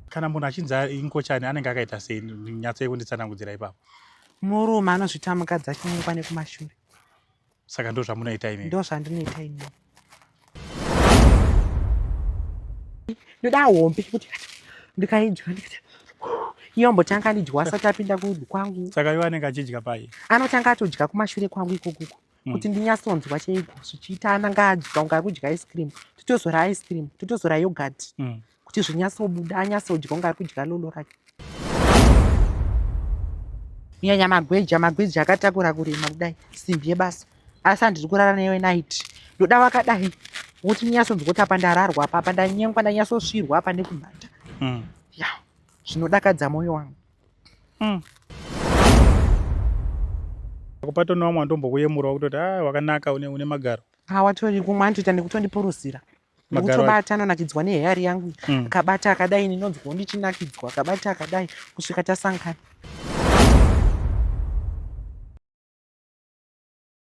kana munhu achinzi inkochani anenge akaita sei nyatsai kunditsanangudzira ipapo murume anozvita mukadzi achimuka nekumashure saka ndo zvamunoita imi ndo zvandinoita imi ndoda hombe kuti ndikaidya iyombotanga ndidya asati apinda kwangu saka iwe anenge achidya pai anotanga atodya kumashure kwangu ikokuko mm. kuti ndinyatsonzwa chaiko zvichiita ana ngaadya unga kudya ice cream totozora ice cream totozora yogurt mm. kuti zvinyatsobuda anyatsodya unga ari kudya lolo rake kunyanya magweja magweja akatakura kurema kudai simbi yebasa asi handiri kurara newe night ndoda vakadai wokuti ndinyatsonzwa kuti apa ndararwa apa apa ndanyengwa ndanyatsosvirwa apa nekumhata mm. ya zvinodakadza mwoyo wangu mm. kupato nevamwe vandombokuyemurawo kutoti a ah, wakanaka une, une magaro hawatori kumwe anotoita nekutondipuruzira nekutobata anonakidzwa neheyari yangu mm. akabata akadai ndinonzwawo ndichinakidzwa akabata akadai kusvika tasangana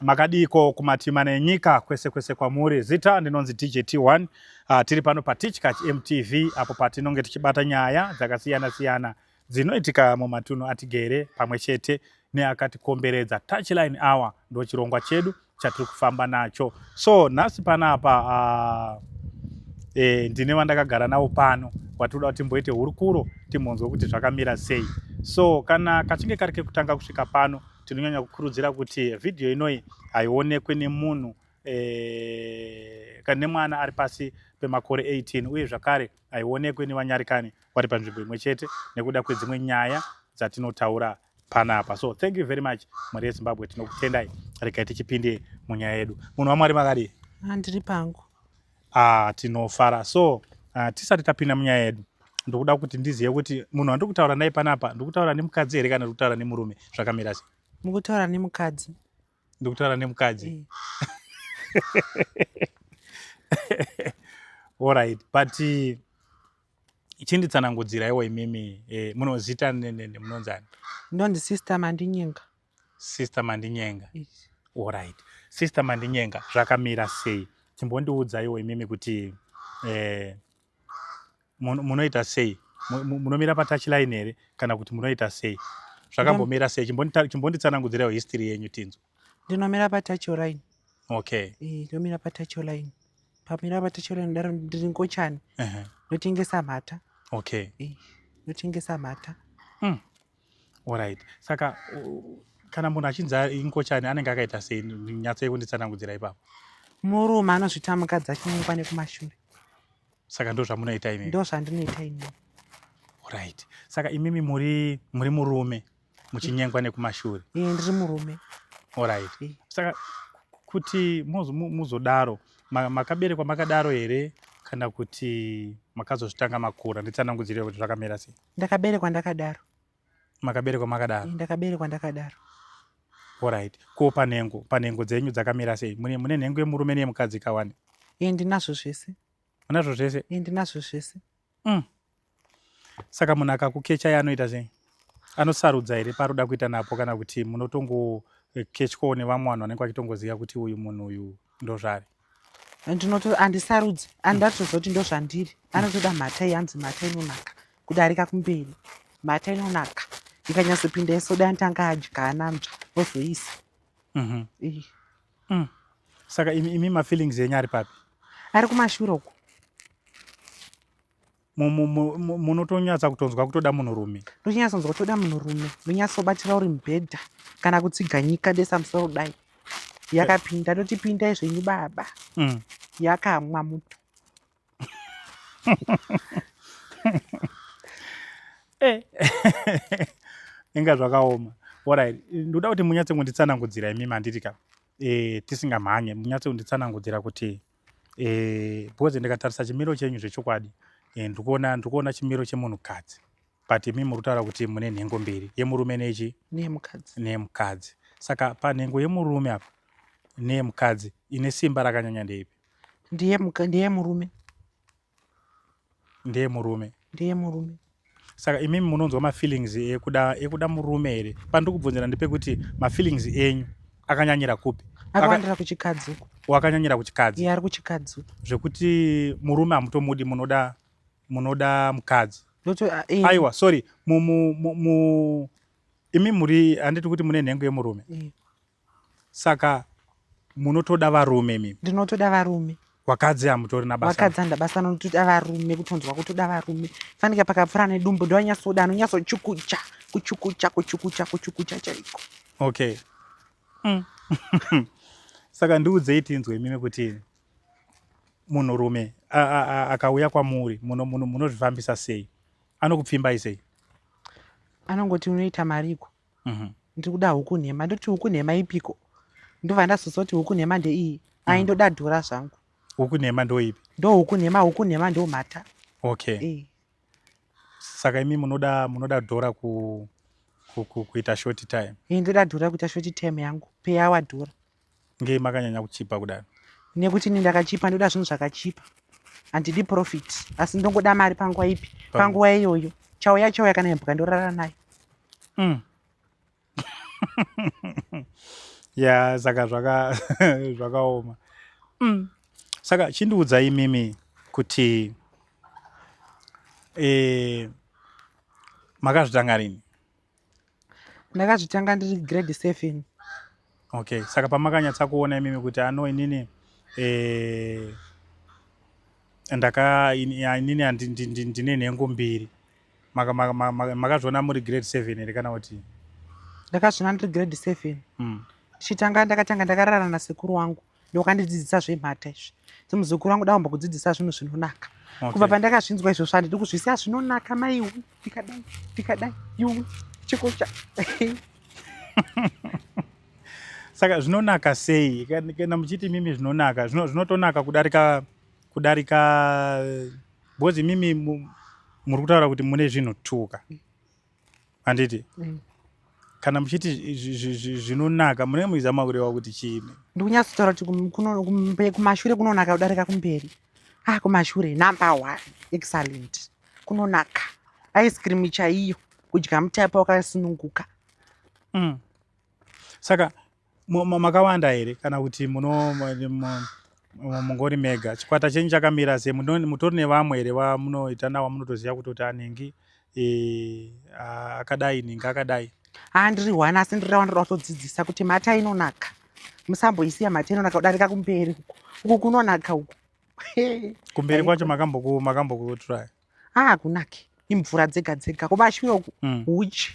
makadiiko kumatima nenyika kwese kwese kwamuri zita ndinonzi djt1 uh, ah, tiri pano patichkach mtv apo patinonge tichibata nyaya dzakasiyana siyana dzinoitika mumatunhu atigere pamwe chete neakatikomberedza touchline hour ndo chirongwa chedu chatiri kufamba nacho so nhasi panapa uh, e, ndine vandakagara navo pano watinoda kuti timboite hurukuro timbonzwe kuti zvakamira sei so kana kachinge kari kekutanga kusvika pano Tinonyanya kukurudzira kuti vhidhiyo inoyi haionekwe nemunhu eh, kana nemwana ari pasi pemakore 18 uye zvakare haionekwe nevanyarikani vari panzvimbo imwe chete nekuda kwedzimwe nyaya dzatinotaura panapa so thank you very much mhuri yezimbabwe tinokutendai regai tichipinde munyaya yedu munhu wamwari makadii handiri pangu ah, tinofara so ah, tisati tapinda munyaya yedu ndokuda kuti ndizive kuti munhu wandiri kutaura naye panapa ndikutaura nemukadzi here kana ndikutaura nemurume zvakamira se mukutaura nemukadzi ndikutaura nemukadzi eh. allright but eh, chinditsanangudzira iwo imimi eh, munozita munonzani ndonzi sister mandinyenga sister mandinyenga orit sister mandinyenga zvakamira sei chimbondiudzaiwo imimi kuti eh, munoita sei munomira patachline here kana kuti munoita sei zvakambomira sei chimbonditsanangudzirawo history yenyu tinzwa ndinomira patacholine okay eh, ndomira patacholine pamira patacholine daro ndiri ngochani ndotengesa mhata okay ndotengesa mhata hmm. Alright. Saka kana munhu achinzi inkochani anenge akaita sei nyatso yekunditsanangudzira ipapo murume anozvita mukadzi achinyengwa nekumashure saka ndo zvamunoita imi ndo zvandinoita ini right saka imimi muri muri murume muchinyengwa nekumashure e, ndiri murume orit e. Eh. saka kuti muzodaro makaberekwa makadaro here kana kuti makazozvitanga makura nditsanangudzirei kuti zvakamira sei ndakaberekwa ndakadaro makaberekwa makadaro ndakaberekwa ndakadaro orit ko panhengo panhengo dzenyu dzakamira sei mune nhengo yemurume neyemukadzi kawani e ndinazvo zvese unazvo zvese e ndinazvo zvese mm. saka munhu akakukecha ye anoita sei anosarudza here paroda kuita napo kana kuti munotongokechwawo eh, nevamwe vanhu vanenge vachitongoziva kuti uyu munhu uyu ndozvari ndinoto andisarudzi andatozoti ndozvandiri anotoda mhata yanzi mhata inonaka kudarika kumberi mhata inonaka ikanyatsopinda yesoda anotanga adya ananzva ozoisa mhm. mm. saka imi mafeelings enyu ari papi ari kumashura uko munotonyatsa kutonzwa kutoda munhurume ndonyatsa kunzwa kutoda munhurume ndonyatsobatira uri mubhedha kana kutsiga nyika desa musoro dai yakapinda ndotipindai zvenyu baba mm. yakamwa muto eh. inga zvakaoma orit ndoda kuti munyatse kunditsanangudzira imi manditi ka eh, tisingamhanye munyatse kunditsanangudzira kuti e, eh, because ndikatarisa chimiro chenyu zvechokwadi eh, ndikuona ndikuona chimiro chemunhukadzi but imi muri kutaura kuti mune nhengo mbiri yemurume nechi neyemukadzi neyemukadzi saka panhengo yemurume apa neyemukadzi ine simba rakanyanya ndeipi ndiyemurume ndeye murume ndeye murume saka imimi munonzwa mafeelings ekuda ekuda murume here pandiri kubvunzira ndepekuti mafeelings enyu akanyanyira kupi akawandira kuchikadzi uko wakanyanyira kuchikadzi iye ari kuchikadzi uko zvekuti murume hamutomudi munoda munoda mukadzi ah, eh. aiwa sorry mu, mu, mu, mu imi muri handiti kuti mune nhengo yemurume eh. saka munotoda varume mimi ndinotoda varume vakadzi hamutori nabasa vakadzi handa basa notoda varume kutonzwa kutoda varume fanika pakapfura nedumbu ndovanyasoda anonyatsochukucha kuchukucha kuchukucha kuchukucha chaiko okay mm. saka ndiudzei tinzwe imimi kuti munhurume akauya kwamuri munozvifambisa sei anokupfimbai sei anongoti unoita mariko Mhm. ndiri kuda huku nhema ndoti huku nhema ipiko ndobva ndazoziva kuti huku nhema ndeiyi ai ndoda dhora zvangu Huku nhema ndoipi? ndo huku nhema huku nhema ndo mhata Okay. Eh, Saka imi munoda munoda dhora ku, ku, ku kuita short time. eh, ndoda dhora kuita shoti time yangu peyawa dhora ngei makanyanya kuchipa kudaro nekuti ini ndakachipa ndoda zvinhu zvakachipa handidi profit asi ndongoda mari panguva ipi panguva iyoyo chauya chauya kana yambuka ndorara nayo mm. ya saka zvakaoma mm. saka chindiudza imimi kuti e, makazvitanga rini ndakazvitanga ndiri grade seven okay saka pamakanyatsa kuona imimi kuti ano inini eh, ndaka inini ndine nhengo mbiri makazviona muri grade seven here kana kuti ndakazviona ndiri grade seven hmm. ndichitanga ndakatanga ndakarara nasekuru wangu ndokandidzidzisa zvemhata izvi semuzukuru wangu daumba kudzidzisa zvinhu zvinonaka kubva pandakazvinzwa izvozvo handidi kuzvisiya zvinonaka maiwu ndikadai ndikadai yuwi chikocha saka zvinonaka sei kana muchiti mimi zvinonaka zvinotonaka kudarika kudarika because mimi muri kutaura kuti mune zvinhu tuka handiti mm. kana muchiti zvinonaka munenge muchizama kureva kuti chiini ndikunyatsotaura kuti kumashure kunonaka kudarika kumberi ah kumashure number one excellent kunonaka ice cream chaiyo kudya mutaipa wakasununguka mm. saka makawanda here kana kuti muno mungori mega chikwata chenyu chakamira se mutori nevamwe here vamunoita nawo munotoziva kutoti anhingi e, akadai nhingi akadai haa ndiri one asi ndiri rawa ndoda kutodzidzisa kuti mata inonaka musamboisiya mata inonaka kudarika kumberi uku kunonaka uku kumberi kwacho makambokuturai haa kunake imvura dzega dzega kumashure uku mm. uchi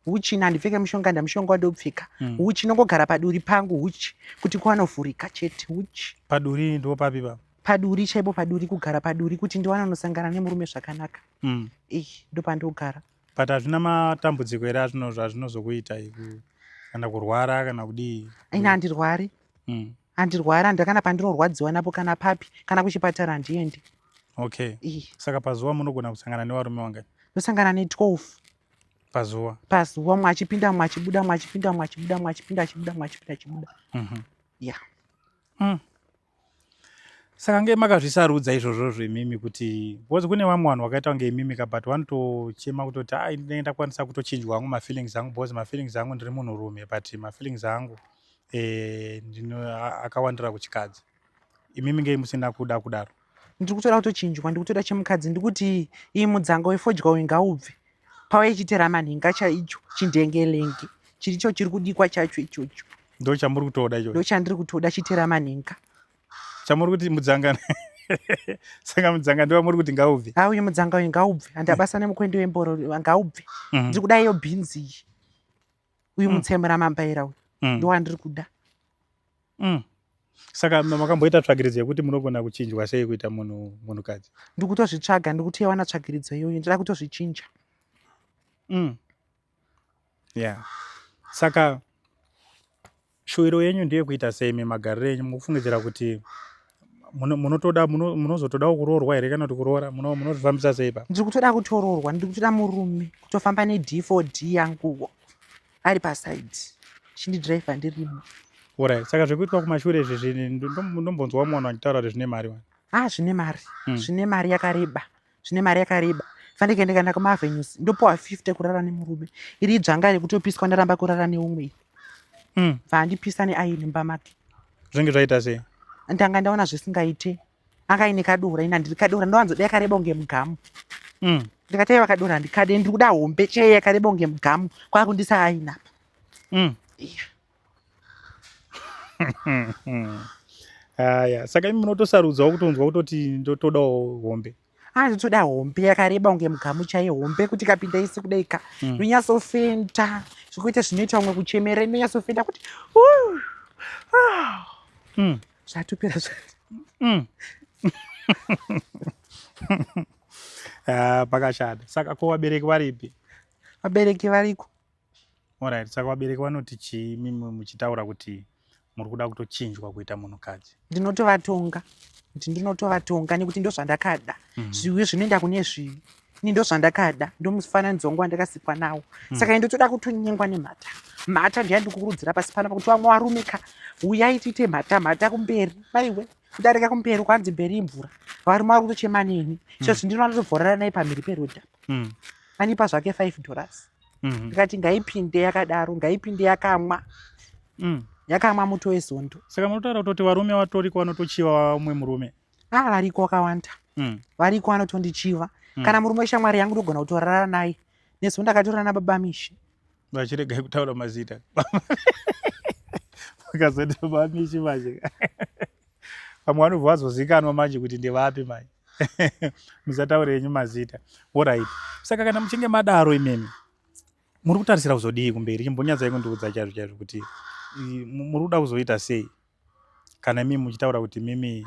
huchi nandipfeke mushonga ndamushonga wandopfeka mm. huchi nongogara paduri pangu huchi kuti kwanovhurika chete huchi paduri ndo papi pa paduri chaipo paduri kugara paduri kuti ndiwana nosangana nemurume zvakanaka mm. eh ndopandogara but hazvina matambudziko here azvino zvazvinozokuita kana kurwara kana kudii ina handirwari mm. handirwari handira kana pandinorwadziwa napo kana papi kana kuchipatara handiendi okay eh. saka pazuva munogona kusangana nevarume wangani ndosangana ne12 pazuva pazuva mwachipinda mwachibuda mwachipinda mwachibuda mwachipinda chibuda mwachipinda chibuda mhm. ya mm. saka nge makazvisarudza izvozvo zvemimi kuti bcause kune vamwe vanhu vakaita kunge imimi ka but vanotochema kutoti a ndinenge ndakwanisa kutochinjwa hangu mafeelings angu bcause mafeelings angu ndiri munhurume but mafeelings angu eh, akawandira kuchikadzi imimi ngei musina kuda kudaro ndiri kutoda kutochinjwa ndiri kutoda chemukadzi ndiri kuti iyi mudzanga wefodya uyu ngaubve pava ichitera manhinga chaicho chindengelenge chiricho chiri kudikwa chacho ichocho ndo chamuri kutoda icho ndo chandiri kutoda chitera manhinga chamuri kuti mudzanga saka mudzanga ndiwa muri kuti ngaubve ha uyu mudzanga uyu ngaubve handabasa nemukwendi wemboro ngaubve mhm. ndiri kuda iyo bhinzi iyi uyu mm. mutsemura mambaira uyu mm. ndowandiri kuda Mm. Saka makamboita tsvagiridzo yekuti munogona kuchinjwa sei kuita munhu munhukadzi? Ndikutozvitsvaga ndikuti yawana tsvagiridzo iyoyo ndida kutozvichinja. Mm. Yeah. Saka shuwiro yenyu ndiye kuita sei memagariro enyu mukufungidzira kuti munotoda munozotodawo kuroorwa here kana kuti kuroora munozvifambisa sei pa ndiri kutoda kutoroorwa ndiri kutoda murume kutofamba nedfod yanguwo ari paside chindidriver ndirimo orit saka zvekuitwa kumashure izvi zvini ndombonzwa umwe vanhu vachitaura kuti zvine mari wani a ah, zvine mari hmm. zvine mari yakareba zvine mari yakareba fanike ndikaenda kumavenues ndopiwa 50 kurara nemurume iri idzvanga rekutopiswa ndaramba kurara neumwe hmm. bva andipisa neaini mumba make zvinge zvaita sei ndanga ndaona zvisingaite anga aine kadora ini handiri kadora ndowanzoda yakareba kunge mugamu mm. ndikati aiwa kadora handikade ndiri kuda hombe chee yakareba kunge mugamu kwakundisa aina apa mm. yeah. haya saka imi munotosarudzawo kutonzwa kutoti ndotodawo hombe anotoda hombe yakareba kunge mugamu chaiye hombe kuti kapinda isi kudai ka mm. inonyasofenda zvekuita zvinoita umwe kuchemera inonyasofenda kuti ah. mm. zvatopera zva mm. ah, pakashata saka ko vabereki varipi vabereki variko Alright, saka vabereki vanoti chii mimi muchitaura kuti muri kuda kutochinjwa kuita munhukadzi? Ndinotovatonga kuti ndinotovatonga nekuti ndozvandakada mm. zviwi zvinoenda kune zviwi ini ndozvandakada ndomufananidzo wangu wandakasikwa nawo mm. saka ndotoda kutonyengwa nemhata mhata ndiyandikukurudzira pasi pano pakuti vamwe varume ka uyai tiite mhata mhata kumberi maiwe kudarika kumberi kwanzi mberi imvura varume vari kutochema neni mm. so zvindinoda tozovhorera nai pamhiri perodha mm. anipa zvake five dollars mm-hmm. ndikati mm -hmm. ngaipinde yakadaro ngaipinde yakamwa mm. yakamwa muto wezondo saka munotaura kutoti varume vatoriko vanotochiva umwe murume a ah, variko vakawanda mm. variko vanotondichiva mm. kana murume weshamwari yangu ndogona kutorara naye nezo ndakatorana nababa mishe vachiregai kutaura mazita vakazoita baba mishe manje pamwe vanobva vazozikanwa manje kuti ndevapi manje musataure yenyu mazita orit saka kana muchinge madaro imimi muri kutarisira kuzodii kumberi chimbonyatsai kundiudza chaizvo chaizvo kuti muri kuda kuzoita sei kana imimi muchitaura kuti mimi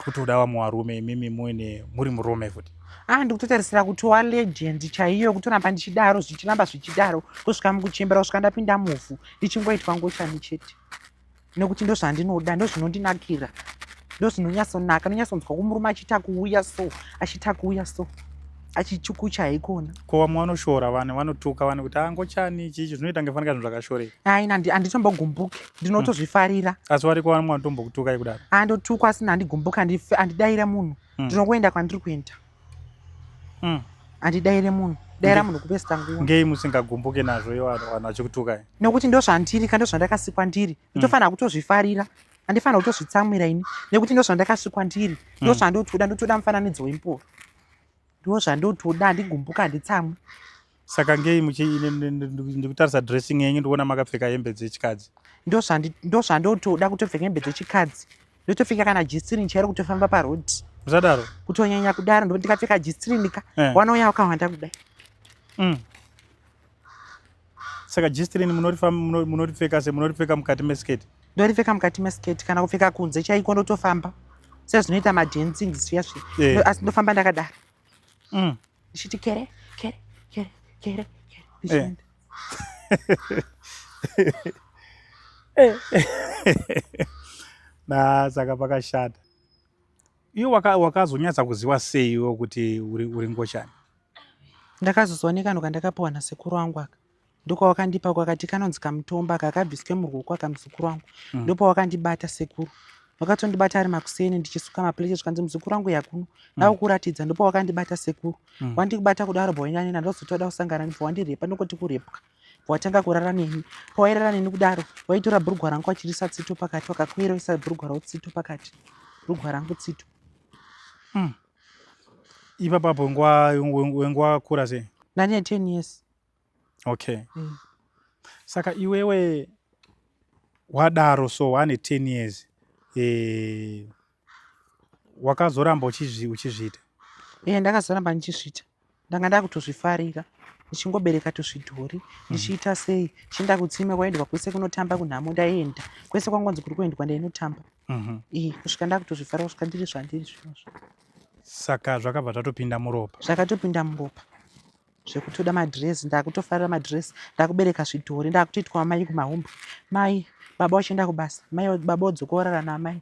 kutoda vamwe varume imimi muine muri murume futi ah ndikutotarisira kutova legend chaiyo kutoramba ndichidaro zvichiramba zvichidaro kusvika mukuchembera kusvika ndapinda muvhu ndichingoitwa ngochani chete nekuti ndozvandinoda ndozvinondinakira ndozvinonyatsonaka ndonyatsonzwa kumurume achiita kuuya so achiita kuuya so achichukucha haikona ko vamwe vanoshora vanhu vanotuka vanhu kuti angochani ah, chichi zvinoita kunge fanika zvinhu zvakashoreka aina handitombogumbuki ndinotozvifarira hmm. asi wariko vamwe vanotombokutukai kudaro andotukwa ah, asina handigumbuki handidaira munhu hmm. ndinokuenda kwandiri kuenda mm. andidaire munhu daira munhu kupesta nguva ngei musingagumbuke nazvo iwo vanhu vachikutukai nekuti ndo zvandiri ka ndo zvandakasikwa ndiri mm. ndofanira kutozvifarira andifanira kutozvitsamwira ini nekuti ndo zvandakasikwa ndiri ndo mm. zvandotoda ndotoda mufananidzo wempoa ndo zvandotoda andigumbuka handitsamwi saka ngei muchindikutarisa dressing yenyu ndikuona makapfeka hembe dzechikadzi ndozvandotoda kutopfeka hembe dzechikadzi ndotopfeka kana jisirini chairo kutofamba paroad musadaro kutonyanya kudaro ndokuti ndikapfeka jisirinika eh. wanouya wakahwanda kudai mm. saka jisirini munoripfeka se munoripfeka mukati mesketi ndoripfeka mukati mesketi kana kupfeka kunze chaiko ndotofamba sezvinoita madancing zviya zviya eh. asi ndofamba ndakadaro mm. ndichiti kere kere kere kere kere eh. na saka pakashata iyo wakazonyatsa kuziva sei iwo kuti uri ngochani ndakazozooneka ndo kandakapiwa nasekuru wangu aka ndokwawakandipa kwakati kanonzi kamutomba kakabviswe murwoko akamuzukuru wangu mm. ndopawakandibata sekuru vakatondibata ari makuseni ndichisuka maplate zvikanzi muzukuru wangu yakuno ndakukuratidza mm. ndopawakandibata sekuru mm. wandikubata kudaro bwainyanena ndozotoda kusangana nibva wandirepa nokoti kurepwa watanga kurara neni pawairara neni kudaro waitora bhurugwa rangu wachirisa tsito pakati wakakueroisa bhurugwa rau tsito pakati bhurugwa rangu tsito mm. ipapapo wenguva kura sei ndane ten years okay mm. saka iwewe wadaro so wane 10 years eh, wakazoramba uchizvi, uchizviita yeah, ndakazoramba ndichizviita ndanga ndakutozvifarira ndichingobereka tuzvidhori mhm. ndichiita sei chienda kutsime kwaendwa kwese kunotamba kunhamo ndaenda kwese kwangonzi kuri kuendwa ndainotamba mhm. i kusvika ndakutozvifarira kusvika ndiri zvandiri zvinozvo saka zvakabva zvatopinda muropa zvakatopinda muropa zvekutoda madress ndakutofarira madress ndakubereka zvidhori ndakutoitwa mai kumahombe mai baba vachienda kubasa mai baba vodzoka vorara naamai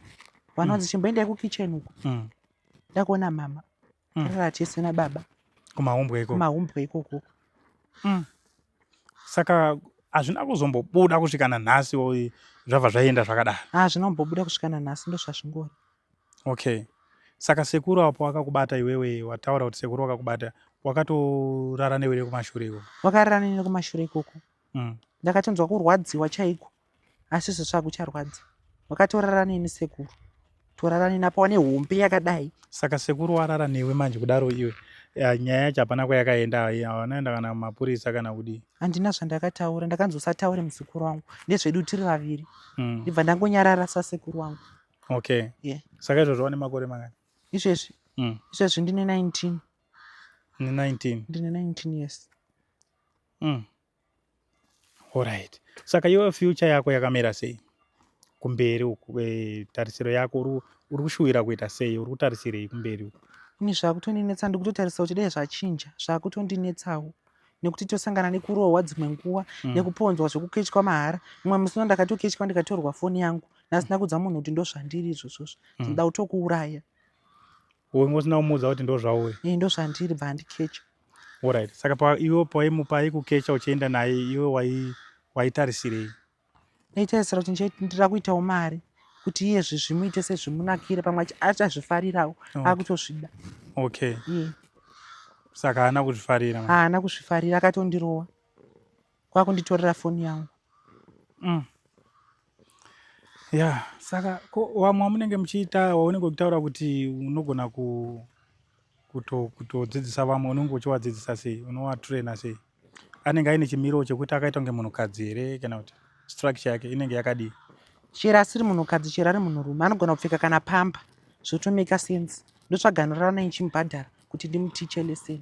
vanonzi mm. chimboendai kukitchen uko mm. ndakuona mama mm. rara tese nababa kumahumbwe ikoko kumahumbwe ikoko mm. saka hazvina kuzombobuda kusvika nanhasi zvabva zvaienda zvakadaro ha ah, zvinombobuda kusvika nanhasi ndozvazvingori Okay. Saka sekuru apo akakubata iwewe wataura kuti sekuru wakakubata wakatorara newe nekumashure ikoko. Wakarara nene kumashure ikoko. Mm. Ndakatonzwa kurwadziwa chaiko. Asi zvosva kucharwadza. Wakatorara neni sekuru. Torara neni apa wane hombe yakadai. Saka sekuru warara newe manje kudaro iwe. Ya, nyaya yacho hapana kwayakaenda hawanaenda kana mapurisa kana kudii handina zvandakataura ndakanzi usataure musekuru wangu ndezvedu tiri vaviri mm. ndibva ndangonyarara sasekuru wangu okay yeah. saka izvozvo wane makore mangani izvezvi mm. izvezvi ndine 19 ne 19 ndine 19 yes mm. alright saka iwe future yako yakamira sei kumberi uku e, tarisiro yako uri uri kushuwira kuita sei uri kutarisirei kumberi uku ini zvakutondinetsa ndikutotarisa kuti dai zvachinja zvakutondinetsawo nekuti tosangana nekurohwa dzimwe nguva mm. nekuponzwa zvekukechwa mahara mumwe musi uno ndakatokechwa ndikatorwa foni yangu ndasina kudza munhu kuti ndozvandiri izvozvozvo mm. ndoda kutokuuraya wenge usina kumuudza kuti ndozvauwe e ndozvandiri bva andikecha orit saka iwe paimupa aikukecha uchienda naye iwe waitarisirei ndaitarisira kuti ndira kuitawo mari kuti iye zvimuite sezvimunakire pamwe achazvifarirawo oh. akutozvida okay yeah. saka haana kuzvifarira haana kuzvifarira akatondirowa kwakunditorera foni yangu mm. ya saka ko wamwe wamunenge muchiita waunenge uchitaura kuti unogona kutodzidzisa vamwe unenge uchiwadzidzisa sei unowatraina sei anenge aine chimiro chekuti akaita kunge munhukadzi here kana kuti structure yake inenge yakadii chero asiri munhukadzi chero ari munhurume anogona kupfeka kana pamba zvotomeka sense ndotsvaganirana naye ndichimubhadhara kuti ndimutiche lesson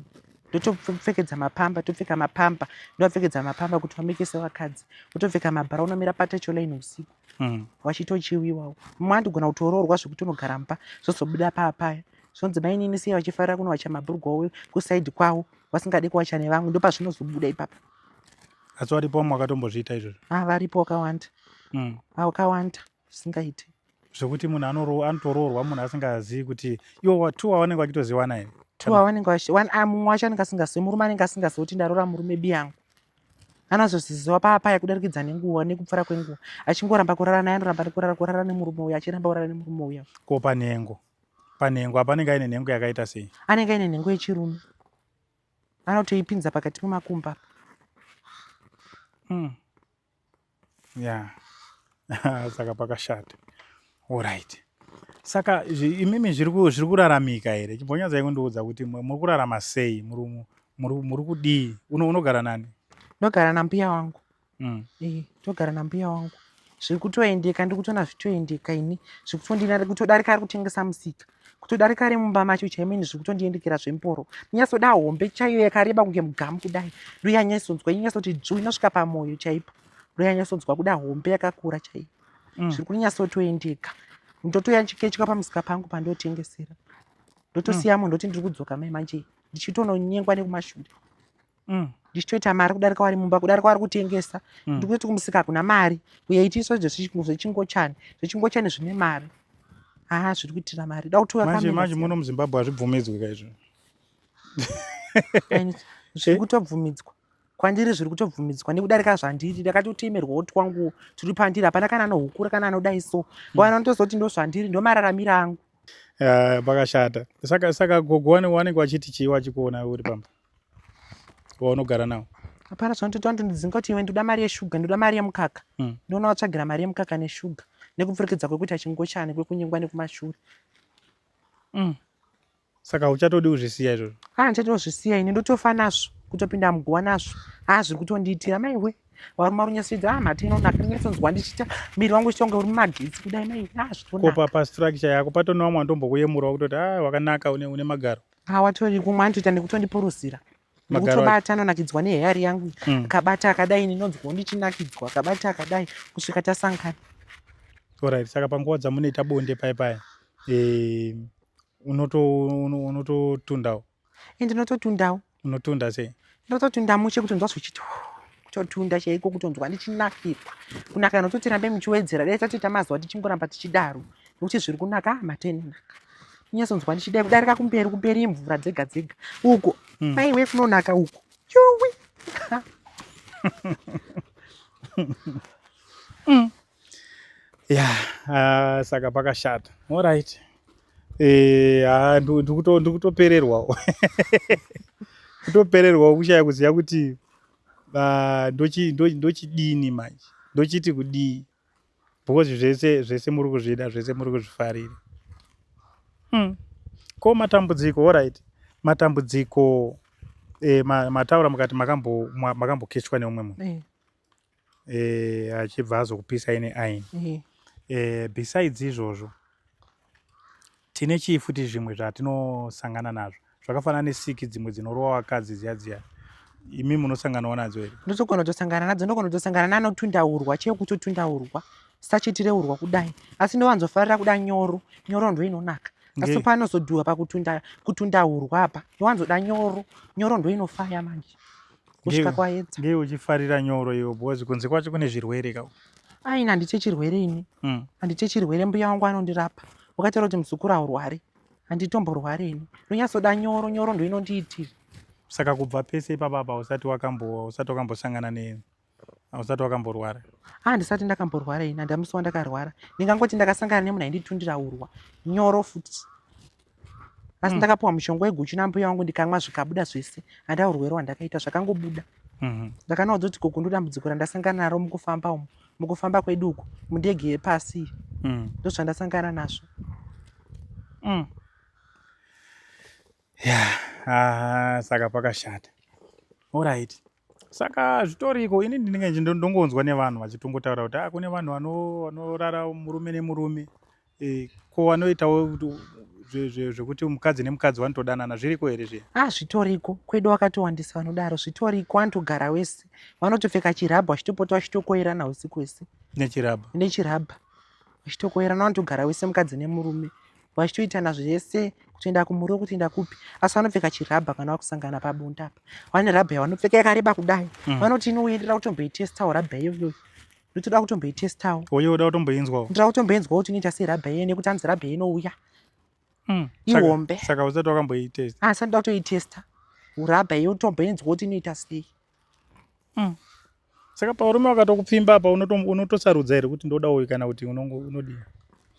ndotopfekedza mapamba topfeka mapamba ndovapfekedza mapamba kuti vameke sevakadzi votopfeka mabhara unomira patecholine usiku mm. vachitochiwiwawo mumwe andigona kutoroorwa zvekuti unogara mumba zvozobuda paa paya zvonzi mainini siya vachifarira kunowacha mabhurugwa kusaidi kwavo vasingade kuwacha nevamwe ndopazvinozobuda ipapa asi varipo vamwe vakatombozviita izvozvo a ah, varipo wakawanda mm. a ah, wakawanda zvisingaiti zvekuti munhu anotoroorwa munhu asingazivi kuti iwo two wavanenge vachitoziwana here two wavanenge ah, mumwe wacho anenge asingazivi murume anenge asingazivi kuti ndaroora murume bi yangu anazozviziva paapaya kudarikidza nenguva nekupfura kwenguva achingoramba kurara naye anoramba nekurara kurara nemurume uya achiramba kurara nemurume uya ko panhengo panhengo apa anenge aine nhengo yakaita sei anenge aine nhengo yechirume anotoipinza pakati pemakumba mm. ya yeah. saka pakashata orit saka imimi zviri kuraramika here chimbonyadza ikundiudza kuti muri kurarama sei muri kudii unogara nani ndogara nambuya wangu mm. eh, togara nambuya wangu zviri kutoendeka ndiri kutoona zvitoendeka ini zviri kutondinari kutodarika ari kutengesa musika kutodarika ari mumba macho chaimini zviri kutondiendekera zvemporo ndinyasoda hombe chaiyo yakareba kunge mugamu kudai ndoyanyasonzwa inyasoti dzvu inosvika pamwoyo chaipo ndoyanyasonzwa kuda hombe yakakura chaiyo mm. zviri kunyasotoendeka ndotoya chikechwa pamusika pangu pandotengesera ndotosiya mm. munhu ndoti ndiri kudzoka mai manje ndichitononyengwa nekumashure mm. ndichitoita mari kudarika wari mumba kudarika wari kutengesa mm. ndikutoti kumusika kuna mari uye itiso zvechingochani zvechingochani zvine mari haa zviri kuitira mari da kutiuamanje muno muzimbabwe hazvibvumidzwi kaizvo zviri kutobvumidzwa kwandiri zviri kutobvumidzwa nekudarika zvandiri ndakatotemerwawo twangu tiri pandiri hapana kana anohukura kana anoda iso vana mm. ndozoti ndo zvandiri ndo mararamiro angu pakashata saka saka gogo wanenge wachiti chii wachikuona uri pamba waunogara nawo hapana zvanotoita ndondidzinga kuti iwe ndoda mari yeshuga ndoda mari yemukaka hmm. ndoona watsvagira mari yemukaka neshuga nekupfurikidza kwekuita chingochani kwekunyengwa nekumashure hmm. saka uchatodi kuzvisiya izvozvo haa ah, ndichatiwo zvisiya ini ndotofa nazvo kutopinda muguwa nazvo haa ah, zviri kutondiitira maiwe waruma runyasoita a ah, mhata inonaka ndinyatsonzwa ndichiita miri wangu uchitonge uri mumagetsi kudai maiwe haa zvitonaka kopa pastructure yako patone wamwe andombokuyemura kutoti a wakanaka une magaro Ah, watori kumwe anotoita nekutondipuruzira nekutobata anonakidzwa neheyari yangu mm. akabata akadai ndinonzwawo ndichinakidzwa akabata akadai kusvika tasangana orit saka panguva dzamunoita bonde pai pai eh, unototundawo eh, ndinototundawo unotunda sei ndototunda mushe kutonzwa zvichiti totunda chaiko kutonzwa ndichinakirwa kunaka nototi rambe muchiwedzera dai tatoita mazuva tichingoramba tichidaro nokuti zviri kunaka matenenaka nyasonzwa ndichidai kudarika kumberi kumberi mvura dzega dzega uko hmm. maiwe kunonaka uko yuwi hmm. ya yeah, uh, saka pakashata orit eh, ah, ndikutopererwawo kutopererwawo kushaya kuziva kuti ah, ndochidini manje ndochiti kudii because zvese zvese muri kuzvida zvese muri kuzvifarira hmm. ko matambudziko orit matambudziko eh, mataura mukati makambokechwa neumwe munhu eh. eh, achibva azokupisai neaini eh. eh, besides izvozvo tine chii futi zvimwe zvatinosangana nazvo zvakafanana nesiki dzimwe dzinorowa vakadzi dziya dziya imi munosanganawo nadzo here ndotogona kutosangana nadzo ndogona kutosangana nanotundaurwa chee kutotundaurwa sachitireurwa kudai asi ndovanzofarira kuda nyoro nyoro ndoinonaka asi panozodhuwa pakutunda kutunda urwa apa ndowanzoda nyoro nyoro ndoinofaya manje kusvika kwaedza ngei uchifarira nyoro iwe because kunze kwacho kune zvirwere ka aini handite chirwere ini mm. handite chirwere mbuya wangu anondirapa wakataura kuti muzukuru aurwari handitomborwari ini ndonyatsoda nyoro nyoro ndo inondiitira saka kubva pese ipapapa usati wakambo usati wakambosangana ne usati wakamborwara handisati ah, ndakamborwara ini handamusi wandakarwara ndingangoti ndakasangana nemunhu ainditundira urwa nyoro futi asi mm. ndakapiwa mushonga weguchu nambuya wangu ndikamwa zvikabuda zvese handaa urwere hwandakaita zvakangobuda mm-hmm. ndakanawo dzoti gogo ndodambudziko randasangana naro mukufamba umu mukufamba kwedu uku mundege yepasi mm. ndozvandasangana nazvo mm. ya yeah. ah, saka pakashata orit saka zvitoriko ini ndinenge ndongonzwa nevanhu vachitongotaura kuti ah, kune vanhu vanorara murume nemurume eh, ko vanoitawo zvekuti mukadzi nemukadzi vanotodanana zviriko here zviya a ah, zvitoriko kwedu wakatowandisa vanodaro zvitoriko vanotogara wese vanotopfeka chirabha vachitopota vachitokoerana usiku wese nechirabha nechirabha vachitokoerana vanotogara wese mukadzi nemurume vachitoitana zvese kutoenda kumuriwo kutoenda kupi asi vanopfeka chirabha kana vakusangana pabonda apa vane rabha yavanopfeka yakareba kudai mm. vanoti inoenderera kutomboitestawo rabha iyoyoyo ndotoda kutomboitestawo oyo oda kutomboinzwawo ndoda kutomboinzwawo kuti inoita sei rabha iye nekuti hanzi rabha inouya mm. ihombe saka usati wakamboitesta asi ah, anoda kutoitesta urabha iye utomboinzwawo kuti inoita sei mm. saka parume wakatokupfimba apa unotosarudza here kuti ndoda uyu kana kuti unodii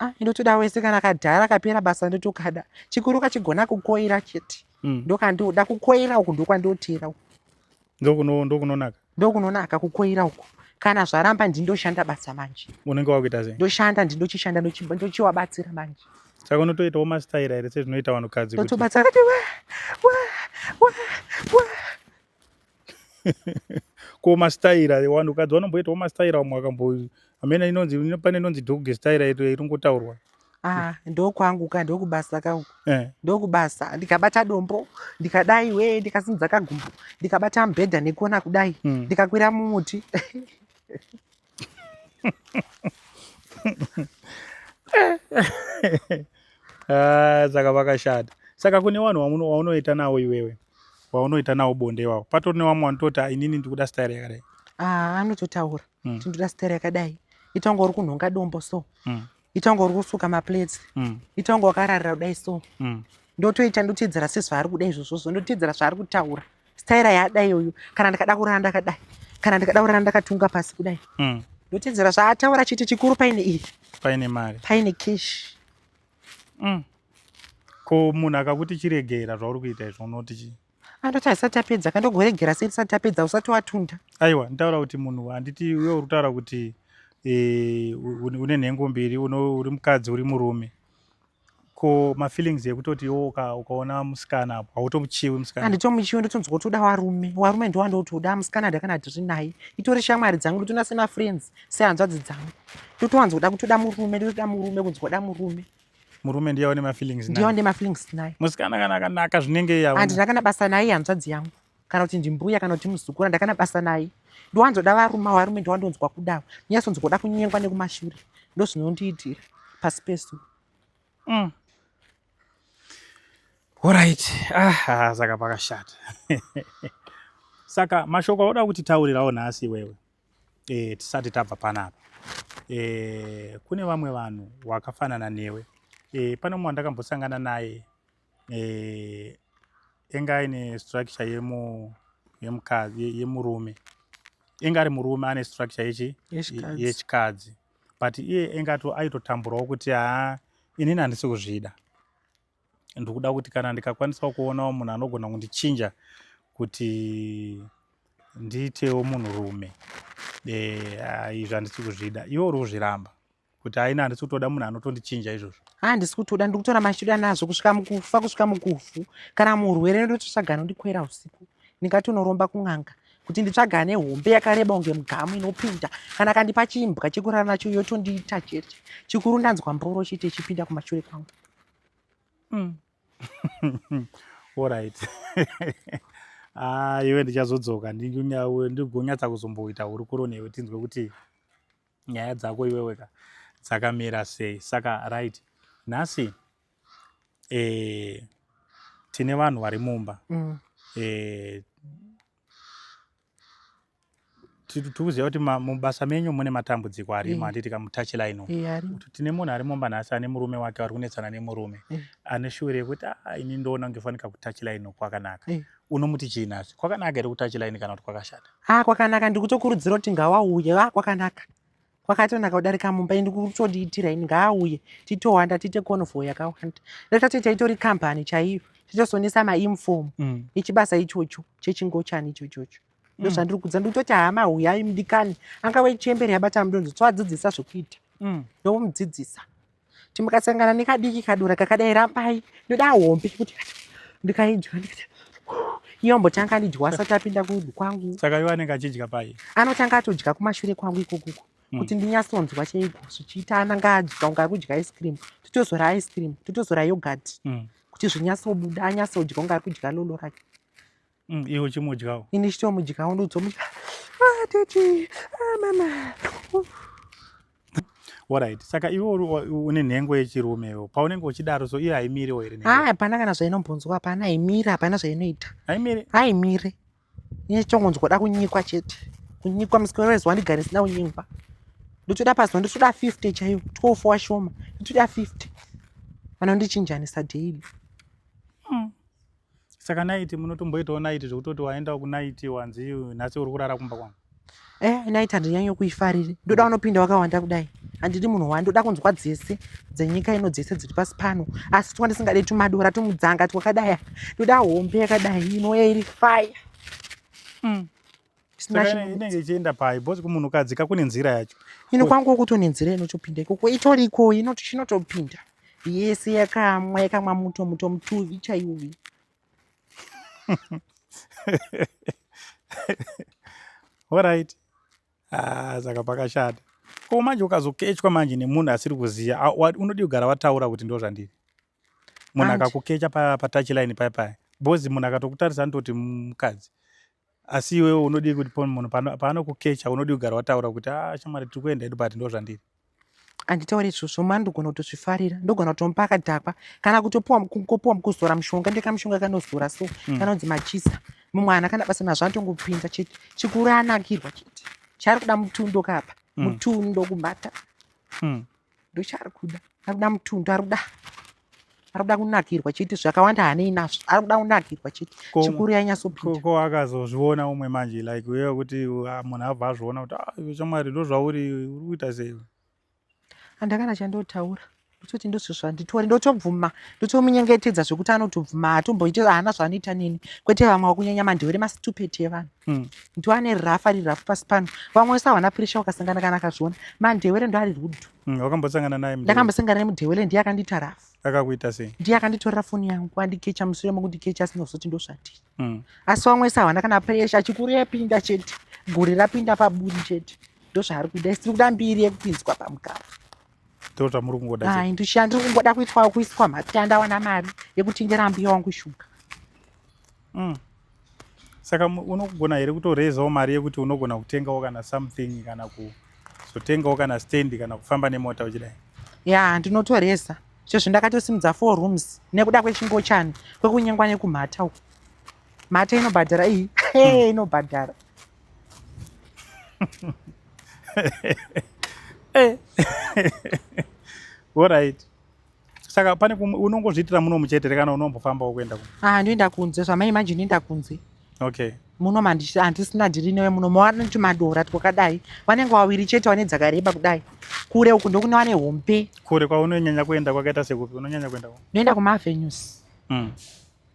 ah, ndotoda wese kana kadhara kapera basa ndotokada chikuru kachigona kukoira chete mm. ndokandoda kukoira uku ndokwandoteera uku ndokunonaka ndokunonaka kukoira uku kana zvaramba ndindoshanda basa manje unenge wakuita sei ndoshanda ndindochishanda ndochiwabatsira manje saka unotoitawo mastaira here sezvinoita vanhukadzi totobatsira ko mastaira vanhu kadzi vanomboitawo mastaira vamwe vakambo amena inonzi pane inonzi dog staira iringotaurwa Ah, ndokwangu ka ndokubasa ka eh. ndokubasa ndikabata dombo ndikadai we ndikasimudza kagumbo ndikabata mubhedha nekuona kudai mm. ndikakwira mumuti Ah, saka vakashata saka kune vanhu waunoita nawo iwewe waunoita nawo bonde iwawo patori nevamwe vanototi ah, inini ndikuda stari yakadai ah, anototaura hmm. tindoda stari yakadai itanga uri kunhonga dombo so hmm. itanga uri kusuka maplates mm. itanga wakararira kudai so mm. ndotoita ndoteedzera sezvaari kuda izvozvozvo ndoteedzera zvaari kutaura staira yaada iyoyo kana ndikada kurara ndakadai kana ndikada kurara ndakatunga pasi kudai mm. ndoteedzera zvaataura chete chikuru paine iyi paine mari paine cash mm. ko munhu akakuti chiregera zvauri kuita izvo unoti chii andoti asati apedza kandogoregera sei tisati tapedza usati watunda aiwa nditaura kuti munhu handiti uye uri kutaura kuti eh, une nhengo mbiri uri mukadzi uri murume ko mafeelings ekutoti iwo ukaona musikana apo hautomuchiwi musikana handitomuchiwi ndotonzwa kuti uda warume warume ndowandouti uda musikana ndakana ndiri naye itori shamwari dzangu ndotona semafriends sehanzvadzi dzangu ndotowanza kuda kuti uda murume ndotoda murume kunzwa uda murume murume ndiye wane mafeelings naye ndiye wane mafeelings naye musikana kana akanaka zvinenge yawo andina kana basa naye hanzvadzi yangu kana kuti ndimbuya kana kuti muzukuru ndakana basa naye ndiwanzoda varuma varume ndiwandonzwa kudawo ndinyasonzwa kuda kunyengwa nekumashure ndo zvinondiitira pasi pesu mm. orit ah, saka pakashata saka mashoko auda kuti taurirawo nhasi iwewe e, tisati tabva panapa e, kune vamwe vanhu wakafanana newe e, pane mumwe wandakambosangana naye e, enga aine structure yemu yemukadzi yemurume enga ari murume ane structure yechi yechikadzi but iye engato aitotamburawo kuti haa inini handisi kuzvida ndikuda kuti kana ndikakwanisawo kuonawo munhu anogona kundichinja kuti ndiitewo munhu rume eh, izvi handisi kuzvida iwe uri kuzviramba kuti haina handisi kutoda munhu anotondichinja izvozvo handisi ah, kutoda ndiri kutora machiuda nazvo kusvika mukufa kusvika mukufu kana murwere ndototsvagana ndikwera usiku ndingati unoromba kun'anga kuti nditsvaga ane hombe yakareba kunge mugamu inopinda kana kandipa chimbwa chekurara nacho yotondiita chete chikuru ndanzwa mboro chete chipinda kumashure kwangu mm. orit ah, iwe ndichazodzoka ndigonyatsa kuzomboita hurukuro newe tinzwe kuti nyaya dzako iweweka dzakamira sei saka right nhasi eh, tine vanhu vari mumba mm. eh, tikuziva kuti mubasa menyu mune matambudziko arimo eh. anditi kamutachi line eh, kuti tine munhu ari mumba nhasi ane murume wake vari kunetsana nemurume eh. ane shure yekuti ah, ini ndoona kunge fanika kutachi line kwakanaka unomuti chii nhasi kwakanaka here kutachi line kana kuti kwakashata a ah, kwakanaka ndikutokurudzira kuti ngawauye a ah, kwakanaka kwakatonaka kudarika mumba ini kutodiitira ini ngaauye titowanda tiite convo yakawanda retatoita itori company chaiyo titosonesa mainform mm. echibasa ichocho chechingochani ichochocho mm. ndozvandiri kudza ndikutoti hama huyai mudikani angave chemberi yabata mudonzo tsoadzidzisa zvekuita mm. ndomudzidzisa kuti mukasangana nekadiki kadura kakadai rambai ndoda hombe kuti ndikaidya ndikati iyo ambotanga andidya asati apinda kudu kwangu saka iwe anenge achidya pai anotanga atodya kumashure kwangu ikokuko hmm. kuti ndinyatsonzwa chaiko zvichiita ananga adya unga akudya ice cream totozora ice cream totozora yogurt hmm. kuti zvinyatsobuda anyatsodya unga akudya lolo rake Mm, iwe uchimudyawo. Ini chitomudyawo ndodzomudya. Ah, tete. Ah, mama. Alright. Saka iwe une nhengo yechirume iwe. Paunenge uchidaro so iye haimiri wo here nhengo? Ah, hapana kana zvainombonzwa hapana haimiri hapana zvainoita. Haimiri? Haimiri. Ini chitongonzwa da kunyikwa chete. Kunyikwa musiki wezuva ndigare sina kunyikwa. Ndotoda pazuva ndotoda 50 chaiyo. 12 washoma. Ndotoda 50. Vanondichinjanisa daily. saka naiti munotomboitawo naiti zvekutoti waendawo kunaiti wanzi nhasi uri kurara kumba kwangu eh naiti handinyanye kuifariri ndoda mm. unopinda wakawanda kudai handidi munhu wani ndoda kunzwa dzese dzenyika ino dzese dziri pasi pano asi twa ndisingade tumadora tumudzanga twakadaya ndoda hombe yakadai inoya iri faya mm. inenge ichienda pai bhozi kumunhukadzi ka kune nzira yacho ino kwangu kuto nenzira inotopinda ikoko itori iko inoti chinotopinda yese yakamwa yakamwa muto muto mutuvi chaiuvi orit ah, saka pakashata ko manje ukazokechwa manje nemunhu asiri kuziva unodii kugara wataura kuti ndo zvandiri munhu akakukecha patachiline paya paya bhozi munhu akatokutarisa anototi mukadzi asi iwewe unodii kuti munhu paanokukecha unodii kugara wataura kuti a ah, shamwari tiri kuenda edu but ndo zvandiri handitaure izvozvo mani ndogona kutozvifarira ndogona kutomupa akadhakwa kana kutopuwa kopuwa mukuzora mushonga ndekamushonga kanozora so hmm. kanonzi machisa mumwana kana basa nazvo anotongopinza chete chikuru anakirwa chete chaari kuda mutundo kapa hmm. mutundo kubata hmm. ndochaari kuda ari kuda mutundu ari kuda ari kuda kunakirwa chete zvakawanda hanei nazvo ari kuda kunakirwa chete chikuru yanyasopindako akazozviona umwe manje like uye kuti ah, munhu abva azviona kuti ah, iwe chamwari ndozvauri uri kuita sei andakana chandotaura ndototi ndozvo zvanditori ndotobvuma ndotomunyengetedza zvekuti anotobvuma hatomboite haana zvaanoita neni kwete vamwe wakunyanya mandewere masitupeti evanhu Hmm. ndiwo ane rafu ari rafu pasi pano vamwe wese hawana puresha wakasangana kana akazviona mandewere ndo ari rudo hmm, wakambosangana naye ndakambosangana naye mudewere ndiye akandiita rafu akakuita sei ndiye akanditorera foni yangu andikecha musure mokundikecha asina kuzoti ndozvadii hmm. asi vamwe wese hawana kana puresha chikuru yapinda chete guri rapinda paburi chete ndozvaari kuda isiri kuda mbiri yekupinzwa pamugaro ndozvamuri kungoda ai ndisha ndiri kungoda kuitwa kuiswa matanda wana mari yekutengera mbuya wangu shuga saka unogona here kutorezawo mari yekuti unogona kutengawo kana something kana kuzotengawo kana stand kana kufamba nemota uchidai ya ndinotoreza chezvo ndakatosimudza four rooms nekuda kwechingochani kwekunyengwa nekumhata uku mhata inobhadhara iyi hmm. inobhadhara eh. orit saka pane unongozviitira muno muchete rekana unombofambawo kuenda ku ah ndoenda kunze zvamai imagine ndoenda kunze okay muno handisina dhiri newe muno mawana kuti madora twakadai vanenge wawiri chete wane dzakareba kudai kure uku ndokune wane hombe kure kwaunonyanya kuenda kwakaita sekupi unonyanya kuenda ndoenda kumavenues mm.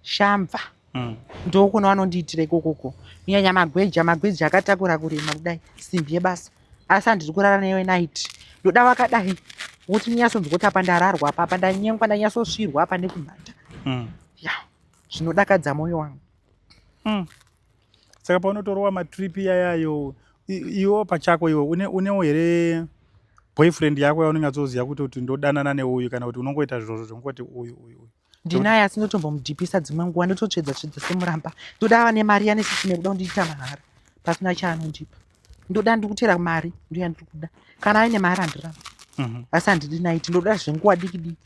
shamva mm. ndokuno vanondiitira ikokoko kunyanya magweja magweja akatakura kurima kudai simbi yebasa asi handiri kurara newe night ndoda vakadai wokuti ndinyasonzwoti apa ndararwa apa apa ndanyengwa ndanyasosvirwa apa nekumhata mm. ya zvinodakadza mwoyo wangu mm. saka paunotorowa matrip yayayo iwo pachako iwo unewo here boyfriend yako yaunenge atsoziva kuti kuti ndodanana neuyu kana kuti unongoita zvirozvo zvongoti uyu uyu uyu ndinaye asi ndotombomudhipisa dzimwe nguva ndototsvedza tsvedza semuramba ndoda ava nemari yanesisi nekuda kundiita mahara pasina chaanondipa ndoda ndikutera mari ndoya ndiri kuda kana aine mari handiramba mhm. asi handidi naiti ndoda zvenguva diki diki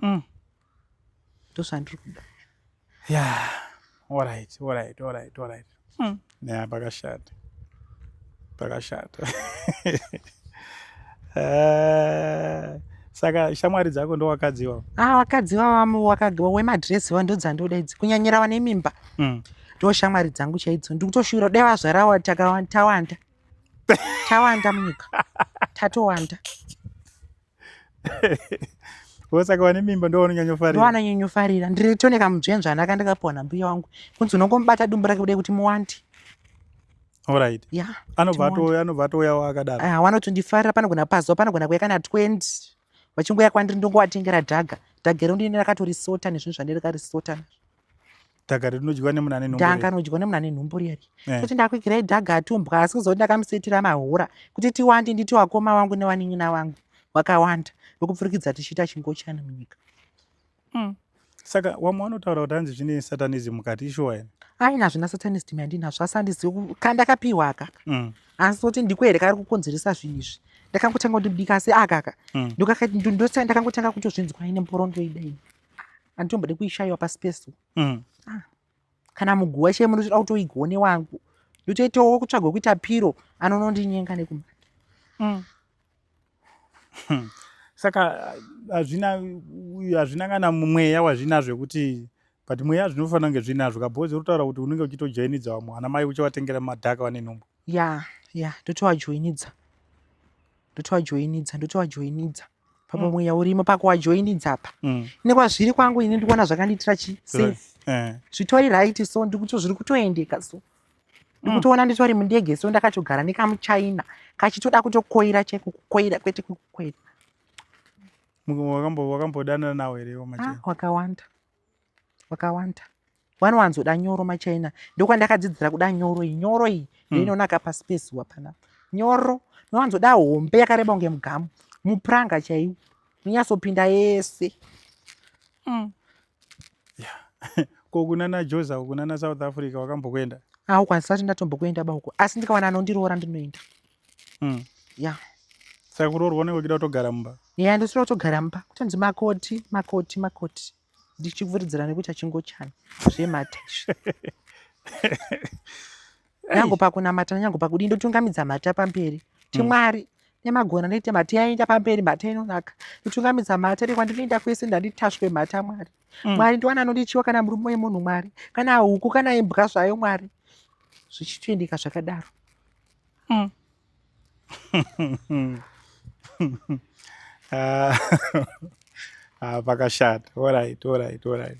mm. ndozvandiri kuda Yeah, all right, all right, all right, all right. Hmm. Yeah, pakashata. Pakashata. uh, saka shamwari dzako ndo wakadzi iwawo ah wakadzi iwawo wakadzi wemadress iwawo ndo dzandoda idzi kunyanyira vane mimba mm. ndo mm. shamwari dzangu chaidzo ndikutoshuwira dai vazvarawa tawanda tawanda munyika tatowanda wosaka wane mimba ndo wanonyanyofarira wanonyanyofarira ndiri tone kamudzvenzvana kandakapiwa nambuya wangu kunzi unongomubata dumbu rake kudai kuti muwandi orit ya anobva atouya anobva atouya wakadaro ah, wanotondifarira panogona pazuva panogona kuya kana 20 vachingoya kwandiri ndongowatengera dhaga dhaga iro ndine rakatorisota nezvinhu zvandiri karisota dhaga rinodyiwa nemuna ane nhumbu dhaga rinodyiwa nemuna ane nhumbu riri eh. kuti ndakwigirai dhaga atumbwa asi kuzoti ndakamusetira mahora kuti tiwande nditi wakoma wangu newanin'ina wangu wakawanda wekupfurikidza tichiita chingochani munyika mm. saka wamwe wanotaura kuti hanzi zvine satanism mukati ishuwa ene aina hazvina satanism yandinazvo asi handizivi kandakapiwa aka mm. asi kuti ndiko here kari kukonzeresa zvinhu izvi ndakangotanga kundibika asi akaka mm. ndokakati ndosai ndakangotanga kutozvinzwa ine mboro ndoida ini anditombode kuishaiwa pasi pesu mm. ah. kana muguwa chee munotoda kutoigone wangu ndotoitawo kutsvagwa kuita piro anonondinyenga nekumba mm. hmm. saka hazvina hazvina kana mumweya wazvina zvekuti but mweya zvinofanira kunge zvinazvo kabhozi uritaura kuti unenge uchitojoinidza vamwe ana mai uchivatengera madhaka vane nhumbu ya ya ndotovajoinidza ndotovajoinidza ndotovajoinidza papa mm. mweya urimo pakuwajoinidza apa mm. nekwazviri kwangu ini ndikuona zvakandiitira chi safe eh. zvitori right so ndikuto zviri kutoendeka so ndikutoona mm. nditori mundege so ndakatogara nekamuchina kachitoda kutokoira cheko kukoira kwete kukoira wakambodanana nawo here ah, wakawanda wakawanda wanowanzoda nyoro machaina ndokwandakadzidzira kuda nyoro iyi nyoro iyi hmm. ndoinonaka mm. paspace wapana nyoro nowanzoda hombe yakareba kunge mugamu mupuranga chaiwo munyasopinda yese mm. yeah. ko kunana joza kunana south africa wakambokuenda aukwanisa kuti ndatombokuenda bauko asi ndikawana anondiroora ndinoenda mm. ya saka kuroorwa unenge uchida kutogara mumba ya ndosira kutogara mumba kutonzi makoti makoti makoti ndichivhuridzira nekuti achingochani zvemhata izvi nyango pakunamata nanyango pakudii ndotungamidza mhata pamberi mm. timwari mm nemagona ndoita mhata yaenda pamberi mhata inonaka nditungamidza mhata rekwa ndinoenda kwese ndanditaswe mhata mwari mm. mwari ndiwani anondichiwa kana murume wemunhu mwari kana huku kana imbwa zvayo mwari zvichitoendeka zvakadaro mm. Ah, ah, pakashata orit orit orit